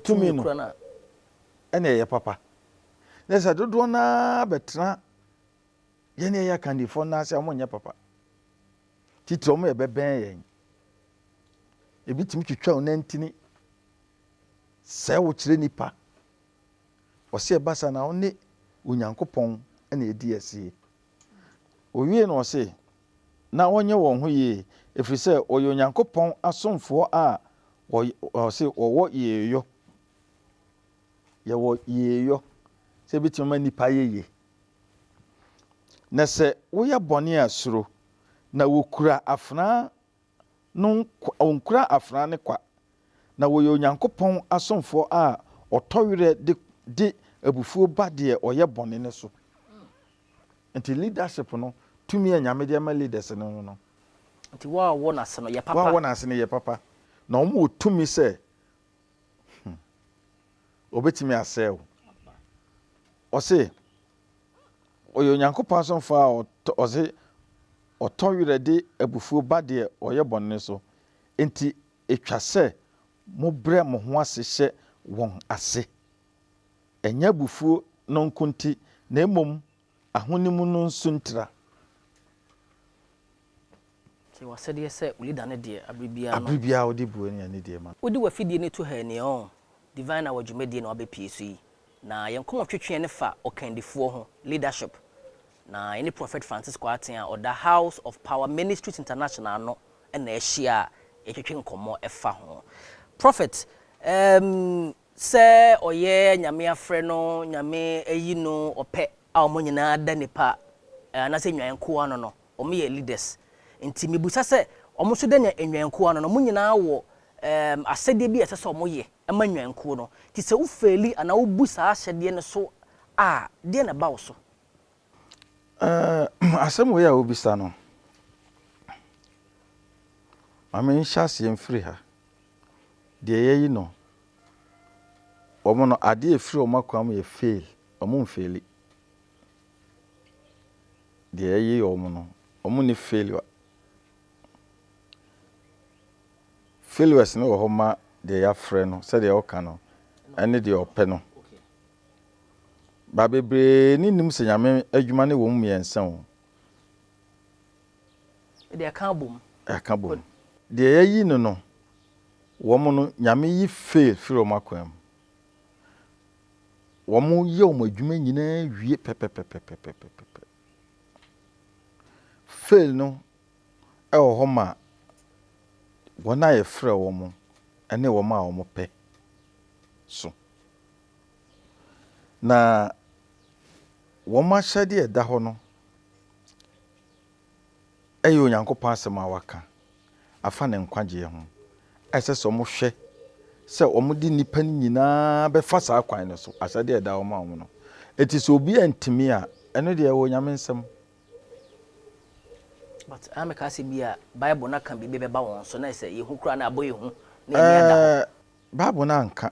tumi no. Ɛna ɛyɛ papa. Na sɛ dodoɔ no ara bɛtena yɛne ɛyɛ akandifoɔ no ase a wɔnyɛ papa. Titire wɔn yɛ bɛbɛn yɛn. Ebi tumi twitwa wo nantini. Sɛ wokyerɛ nipa. ɔse ɛba saa na ɔne Onyankopɔn na ɛdi asie. Ɔwiee no ɔse na wɔnyɛ wɔn ho yie ɛfiri sɛ wɔyɛ Onyankopɔn asomfoɔ a ɔse wɔwɔ yeeyɔ, yɛwɔ yeeyɔ sɛ ɛbɛtumi ama nnipa ayɛ yie. Na sɛ woyɛ bɔne a suro, na wɔkura afenaa no nkwa, wɔnkura afenaa no kwa, na wɔyɛ Onyankopɔn asomfoɔ a wɔtɔ werɛ de de abufuo ba deɛ ɔyɛ bɔne no so. Nti leadership no, tumi a Nyame de ama leaders no no no, Nti wɔn a wɔwɔ n'ase no yɛ wɔn a papa. wɔwɔ n'ase no yɛ papa, na wɔn wɔ tumi sɛ, hmm, wɔbɛtumi asɛe wo. Ɔse, Ɔyɛ Onyankopɔn asomfo a ɔdze ɔtɔ werɛ de abufuw ba deɛ ɔyɛ bɔne no so, enti etwa sɛ mobrɛ mo ho ase hyɛ wɔn ase. Ɛnyɛ abufuo no nko nti, na mmom ahonim no nso ntira. Yɛ w'asɛdeɛ sɛ wo leader no deɛ abere biara no. Abere biara wode bue nea ne deɛ ma no. Wode w'afidie no to hɛɛ nea ɔɔ. Divine Hour dwumadie na wabɛpue so yi. Na yɛn nkɔmmɔ twetweɛ no fa ɔkandifoɔ ho, leadership. Na yɛne Prophet Francis Kwarteng a ɔda House of Power Ministries International ano na ahyia a yɛtwetwe nkɔmmɔ fa ho. Prophet, ehm, sɛ ɔyɛ Nyame afrɛ no, Nyame ayi no, ɔpɛ. a wɔn nyinaa da nipa anase nnwan nkoa ano no wɔn yɛ leaders nti mibisa sɛ wɔn nso dɛ nya nnwan nkoa ano no wɔn nyinaa wɔ ɛɛm asɛdeɛ bi a ɛsɛ sɛ wɔn yɛ ma nnwan nkuo no nti sɛ wo faili anaa wo bu saa ahyɛdeɛ no so a deɛ na ɛba wo so. Ɛɛm asɛm wei a wo bisa no ma me nhyɛ aseɛ mfiri ha deɛ yɛyi no wɔn no adeɛ a ɛfiri wɔn akoa mu yɛ faili Ɔmo nfeeli. Deɛ yɛye ɔmo no, ɔmo nni failure. Failures no wɔ hɔ ma deɛ yɛafrɛ no, sɛdeɛ ɔka no, ɛne deɛ ɔpɛ no. But bebree ne nnim sɛ Nyame adwuma no wɔ mu mmiɛnsa o. Deɛ ɛka abom. Ɛka bom. Deɛ yɛayi no no, wɔn no, Nyame yi fail firi wɔn akwan mu. wɔyɛ wɔn adwuma nyinaa wie pɛpɛpɛpɛpɛpɛpɛ. Fail no wɔ hɔ ma wɔn a yɛfrɛ wɔn ne wɔn a wɔpɛ so. Na wɔn ahyɛdeɛ a ɛda hɔ no, yɛ Onyankopɔn Asɛm a waka afa ne nkwagyeɛ ho, a ɛsɛ sɛ wɔhwɛ sɛ wɔde nnipa no nyinaa bɛfa saa kwan no so, ahyɛdeɛ a ɛda hɔ ma wɔn no. Enti sɛ obi antumi a, ɛno deɛ ɛwɔ Nyame nsam. But ɛna meka sɛ bi a Bible no aka biribi bɛba wɔn so na ɛsɛ sɛ yɛhu koraa na abɔ yɛn hu na yɛn ani ada hɔ. Ɛɛ, Bible no anka.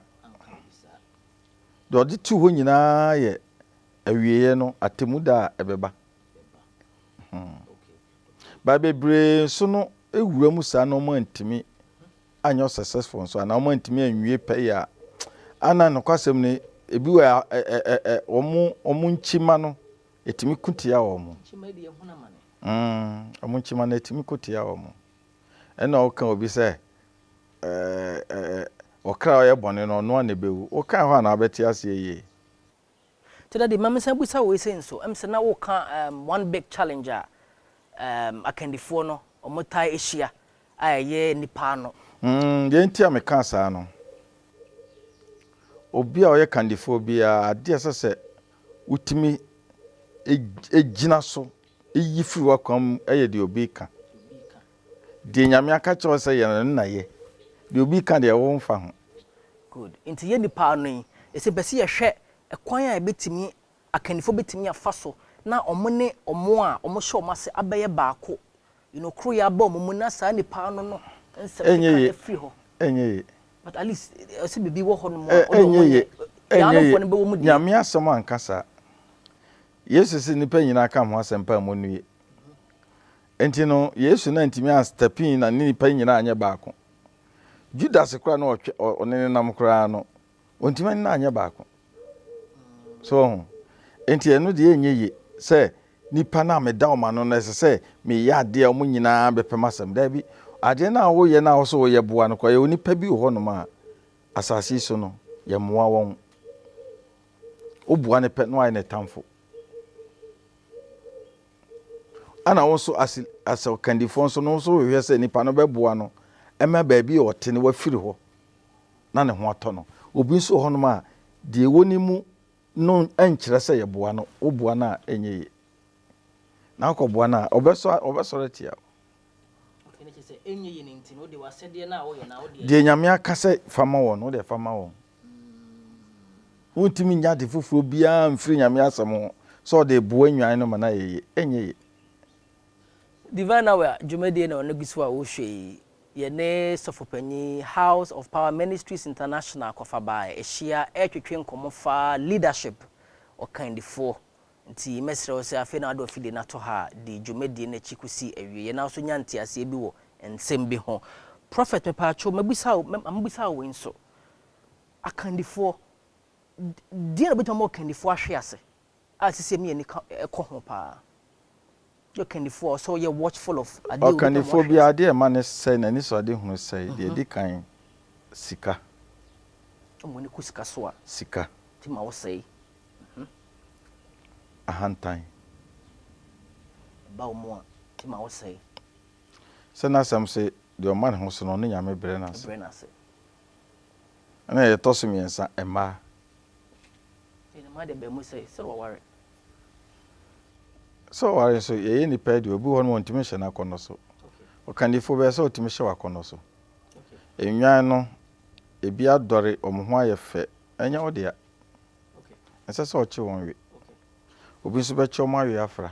Deɛ ɔde too hɔ nyinaa yɛ awieeɛ no, atemmuda a ɛbɛba. bɛba. But bebree nso no wura mu saa na wɔn antumi anyɛ successful nso anaa wɔn antumi anwie pɛ yɛ a ana nokwasɛm no ebi wɔ a ɛ ɛ ɛ ɛ wɔn wɔn nkyima no etumi ko tia wɔn. Nkyima deɛ ɛho na ma no. Mm, wɔn nkyima no etumi ko tia wɔn. Ɛna ɔka obi sɛ ɛɛ ɛɛ ɔkra a ɔyɛ bɔne no ɔno a na ebewu. Ɔka hɔ a na abɛte aseɛ yie. Nti Daddy, ma mensan bisa wei sei nso, ɛm sɛ na woka ɛɛm one big challenge a ɛɛm akandifoɔ no wɔtaa hyia a ɛyɛ nnipa ano. Mm, deɛ nti a mekaa saa no, obi a ɔyɛ kandifoɔ biara adeɛ a ɛsɛ sɛ wotumi gyina so yi firi w'akwan mu yɛ deɛ obi reka. Deɛ Nyame aka kyerɛ wo sɛ yɛ no, ɛno na yɛ. Deɛ obi ka deɛ, wo nfa ho. Good. Nti yɛ nnipa no yi, ese bɛ se yɛhwɛ ɛkwan a ɛbɛtumi, akannifoɔ bɛtumi afa so na wɔn ne wɔn a wɔhyɛ wɔn ase abɛyɛ baako, you know, koroyɛ aba wɔn mu na saa nnipa no no nsɛm keka no afiri hɔ. Ɛnyɛ ye. But at least, ɛse biribi wɔ hɔ nom a, wɔde wɔn yɛ. Yaanomfoɔ no bɛwɔ mu deɛ. Nyame asɛm anka saa. Yesu se nnipa nyinaa ka me ho asɛmpa a monnue. Enti no, Yesu na antumi an step in na ne nipa nyinaa anyɛ baako. Judas koraa no ɔtwe ɔ ɔne ne nam koraa no, ɔntumi an na anyɛ baako. So wɔho? Enti ɛno deɛ ɛnyɛ ye sɛ nipa no a meda wɔn ano no ɛsɛ sɛ meyɛ adeɛ a wɔn nyinaa bɛpɛ m'asɛm. Daabi. Adeɛ no a woyɛ no a wose woyɛ boa no koraa, yɛwɔ nipa bi wɔ hɔnom a asase yi so no yɛmmoa wɔn. Woboa no pɛ na wayɛ no tamfo. Ɛna wo nso as as ɔkandifoɔ nso no nso hwehwɛ sɛ nipa no bɛboa no ɛma baabi a ɔte no wafiri hɔ na ne ho atɔ no. Obi nso wɔ hɔnom a deɛ ɛwɔ ne mu no nkyerɛ sɛ yɛboa no, woboa no a ɛnyɛ yie. Na wokɔboa no a ɔbɛsɔ ɔbɛsɔre atia wo. Deɛ Nyame aka sɛ fa ma wɔn no, wodeɛ fa ma wɔn. Wontumi nyɛ ade foforɔ biara mfiri Nyame asɛm ho sɛ ɔde reboa nnwan no ma no ayɛ yie. Ɛnyɛ yie. Divine Hour dwumadie na ɔno gu so a wohwɛ yi. Yɛne Sɔfo Panyin, House of Power Ministries International Kwafa Bae ahyia retwetwe nkɔmmɔ fa leadership, ɔkandifoɔ, Enti mɛsrɛ wo sɛ afei na wode w'afide no ato ha a, di dwumadie no akyi kɔsi awieɛ na wo nso nya nteaseɛ bi wɔ nsɛm bi ho. Prɔfɛt, mepaakyɛw, mɛbisa wo, mɛ, mɛbisa wo wei nso. Akandifoɔ, deɛn na ɔbɛtumi ama ɔkandifoɔ ahwe ase a seesei me ani ka, ɛkɔ ho pa ara? Ɔkannifoɔ a, ɔsɛ sɛ ɔyɛ watchful of adeɛ a onipa mu ɔhwɛ. Ɔkannifoɔ biara, adeɛ a ɛma ne sɛe, n'anisoadehunu sɛe, deɛ ɛdi kan, sika. Sɛ mo ani kɔ sika so a. Sika. Nti ma ɔsɛe. Ahantan. Ɛba wɔn mu a, nti ma ɔsɛe. Sɛ n'asɛm se, Deɛ ɔma ne ho so no, ɔno Nyame brɛ no ase. Brɛ no ase. Ɛna deɛ ɛtɔ so mmiɛnsa, mmaa. Deɛ ne mmaa deɛ ɛbaa mu sɛ, sɛdeɛ wɔaware. Sɛ ɔware nso, yɛyɛ nnipa yi deɛ, obi wɔ hɔ no ɔntumi nhyɛ n'akɔnnɔ so. Ɔkannifo bɛyɛ sɛ ɔtumi hyɛ w'akɔnnɔ so. Nnwan no, ebi adɔre, wɔn ho ayɛ fɛ, ɛnyɛ wo dea. Ɛnsɛ sɛ ɔkye wɔn we. Obi nso bɛkye wɔn awe afra.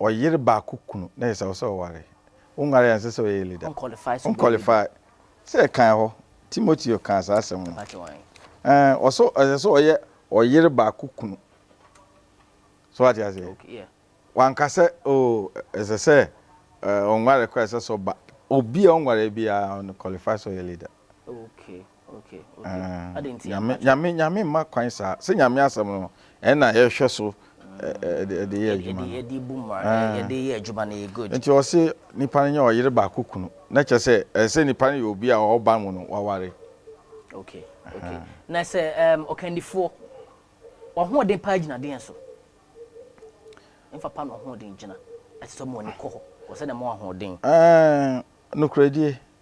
ɔyere baako kunu na ɛsɛ sɛ ɔware. Wonwaree a ɛnsɛ sɛ ɔyɛ leader. Wonqualify sɛ ɛkan hɔ. Timoteo kaa saa asɛm no. Ɛɛ, ɔsɛ ɛsɛ sɛ ɔyɛ ɔyere baako kunu. So wate aseɛ? Wanka sɛ oo ɛsɛ sɛ ɔnware koraa ɛsɛ sɛ ɔba. Obi a ɔnwaree biara ɔnqualify sɛ ɔyɛ leader. Nyame Nyame mma kwan saa sɛ Nyame asɛm no ɛna yɛhwɛ so ɛde yɛ adwuma no ɛde bu ma ɛde yɛ adwuma no yɛ good nti ɔse nipa no nyɛ ɔyere baako kunu na kyɛ sɛ ɛsɛ nipa no yɛ obi a ɔba mu no waware okay okay na sɛ um, ɔkandifoɔ ɔhoɔden paa gyina deɛn so mfa pa na ɔhoɔden gyina ɛsɛ sɛ ɔmo ani kɔ hɔ ɔsɛ na ɛmo ahoɔden nokorɛdie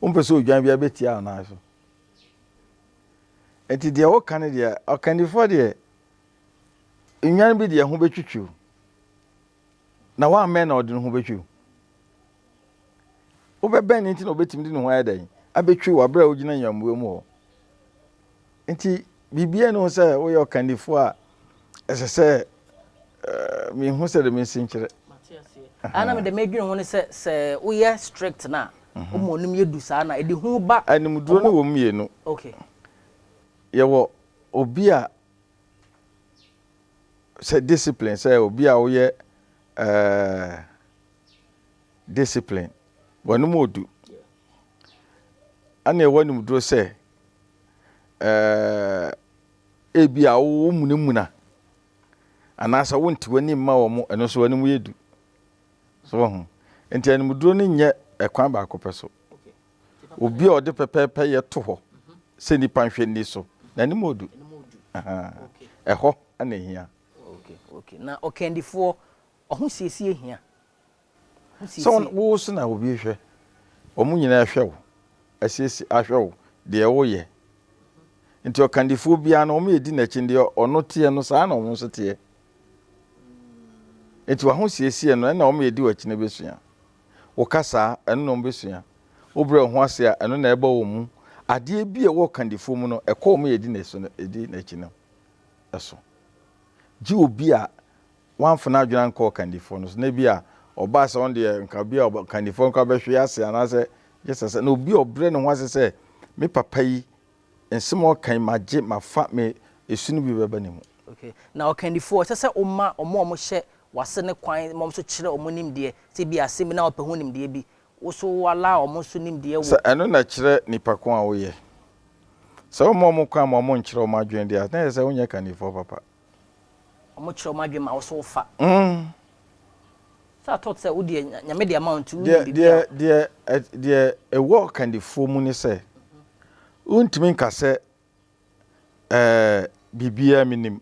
Wompɛ sɛ odwan biara bɛtia wo nan so. Nti deɛ woka no deɛ, ɔkandifoɔ deɛ, nnwan bi deɛ ho bɛtwitwi wo. Na woammɛn na ɔde ne ho bɛtwi wo. Wobɛbɛn no nti na ɔbɛtumi de ne ho ayɛ dɛn? Abɛtwi wo aberɛ a wogyina nyammoa mu hɔ. Enti biribiara nni ho sɛ woyɛ ɔkannifo a ɛsɛ sɛ mihu sɛnea minsi nkyerɛ. Mate aseɛ. Ɛha na mede medwene ho ne sɛ, sɛ woyɛ strict no a, woma ɔnim yɛ du saa na ɛde hu ba. Animduro no wɔ mu mmienu. Okay. Yɛwɔ obi a sɛ discipline, sɛ obi a woyɛ discipline, w'anim ɔdu. Ɛna ɛwɔ animduro sɛ Ɛɛ, ebia womunamuna anaasɛ wonte w'ani mma wɔn, ɛno nso w'anim yɛ du. So wahu? Nti animduro no nyɛ ɛkwan baako pɛ so. Obi a ɔde pɛpɛɛpɛ yɛ to hɔ sɛ nipa nhwɛ nni so, n'anim odu. Ɛhɔ na ehia. Okay, okay. Na ɔkandifoɔ, ɔhosiesie hia? Sɛ wo na wowo so na obi rehwɛ, wɔn nyinaa rehwɛ wo, asiesie ahwɛ wo, deɛ woreyɛ. Nti ɔkandifoɔ biara no, wɔyɛ di n'akyi no, deɛ ɔno teɛ no, saa na wɔn nso teɛ. Nti w'ahosiesie no, ɛna wɔyɛ di w'akyi no bɛsua. Wo kasa a, ɛno na wɔbɛsua. Wo brɛ wo ho ase a, ɛno na ɛba wɔn mu. Adeɛ bi a ɛwɔ ɔkandifoɔ mu no, ɛkɔ wɔn yɛ di n'akyi no so. Gye obi a wamfa n'adwene ankɔ ɔkandifoɔ no so, na ebia ɔbaa sɛ ɔno deɛ nka bi a ɔkandifoɔ no koraa bɛhwe ase anaasɛ gye sɛ sɛ na obi a ɔbrɛ ne ho ase sɛ me papa yi nsɛm a ɔka yi magye mafa me esu no bi bɛba ne mu. Okay. Na ɔkandifoɔ, ɛsɛ sɛ woma wɔn a wɔhyɛ w'ase no kwan ma wɔn nso kyerɛ wɔn nimdeɛ, sɛ ebia asɛm bi na wɔpɛ ho nimdeɛ bi, wo nso wo allow wɔn nso nimdeɛ wɔ. Sɛ ɛno na ɛkyerɛ nipa ko a woyɛ. Sɛ womma wɔn kwan ma wɔnkyerɛ wɔn adwene deɛ a, na ɛyɛ sɛ wonyɛ kandifoɔ papa. Ɔmo kyerɛ ɔmo adwene ma wo so wo fa. So I thought sɛ wo deɛ Nyame de ama wo nti wonim biribiara. Deɛ deɛ deɛ ɛwɔ ɔkandifoɔ mu ne sɛ wontumi nka sɛ ɛɛ biribiara menim.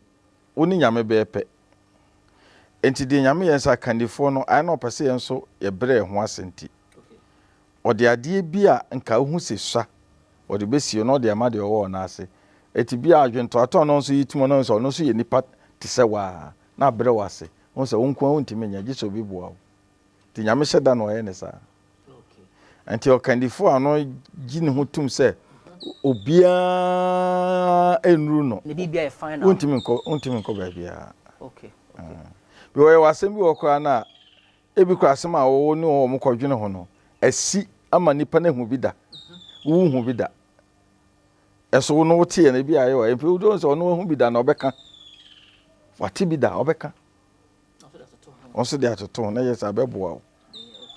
Wo ne Nyame bɛyɛ pɛ. Nti deɛ Nyame yɛ sɛ akandifoɔ no ayɛ na ɔpɛ sɛ yɛn nso yɛbrɛ yɛn ho ase nti Ɔde adeɛ bi a nka wohu se sua ɔde bɛsie na ɔde ama deɛ ɔwɔ ɔno ase. Eti bia adwentoatɔ no nso yitumi no sɛ ɔno nso yɛ nipa te sɛ wo ara na abrɛ wo ase. Wohu sɛ wo nko ara wontumi nyɛ gye sɛ obi boa wo. Nti Nyame hyɛ da na ɔyɛ no saa. Nti ɔkandifo a ɔno gye ne ho tom sɛ obiara nnuru no wontumi nkɔ wontumi nkɔ baabiara. Bi ɔyɛ wɔ asɛm bi wɔ hɔ koraa no a Ebi koraa asɛm a wo ne wɔn kɔdwene ho no asi ama nnipa no ahu bi da. Wonhu bi da. Ɛso wo no woteɛ no ebi a ayɛ wa. Mpe wode wɔn sɛ ɔno ahu bi da na ɔbɛka. Wate bi da ɔbɛka. Wɔn nso de atoto ho na yɛ sɛ abɛboa wo.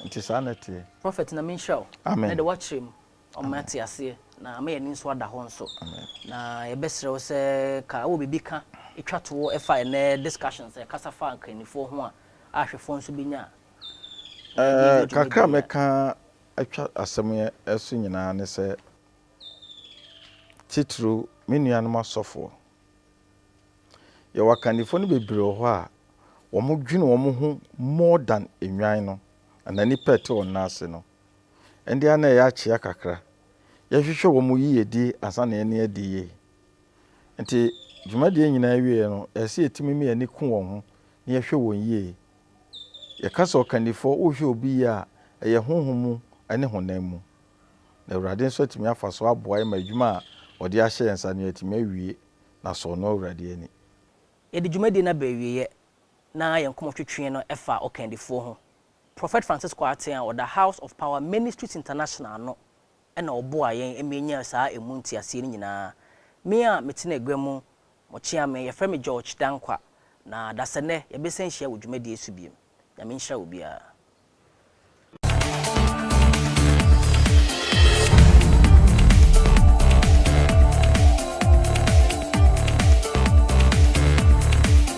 Nti saa na ɛteɛ. Prophet Nyame nhyira wo. Amen. Ɛnɛ de woakyerɛ mu. Ɔma yɛate aseɛ na ama yɛn ani nso ada hɔ nso. Na yɛbɛsrɛ wo sɛ ka wowɔ biribi ka twa toɔ fa ɛnɛ discussion sɛ kasa fa nkannifoɔ ho a ahwɛfoɔ nso bɛnya a. Ɛɛ kakra a mɛka atwa asɛm yi so nyinaa ne sɛ titiriw me nuanom asɔfoɔ yɛwɔ akannifoɔ no bebree wɔ hɔ a wɔn dwene wɔn ho more than nnwan no anaa nnipa a ɛte wɔn nan ase no. Ɛnde a na ɛyɛ akyea kakra. Yɛhwehwɛ wɔn yiyedi ansa na yɛne adi yie. Enti, dwumadie nyinaa awieeɛ no, ɛsɛ sɛ yɛtumi ma yɛn ani ku wɔn ho na yɛhwɛ wɔn yie. Yɛka sɛ ɔkandifoɔ, wohwɛ obi yie a, ɛyɛ honhom mu ne honam mu. Na Awurade nso atumi afa so aboa yɛn ma adwuma a ɔde ahyɛ yɛn nsa no yɛatumi awie na asɔ ɔno Awurade ani. Yɛde dwumadie no aba awieeɛ na yɛn nkɔmmɔtwetwe no fa ɔkandifoɔ ho. Prɔfɛt Francis Kwarteng a ɔda House of Power Ministries International ano na ɔboaa yɛn ma yenyaa saa emu ntease no nyinaa. Me a mete n'agua mu, mokyea me. Wɔfrɛ me George Dankwa, na dasɛnnɛ yɛbɛsan ahyia wɔ dwumadie so bio. Nyame nhyira obiara.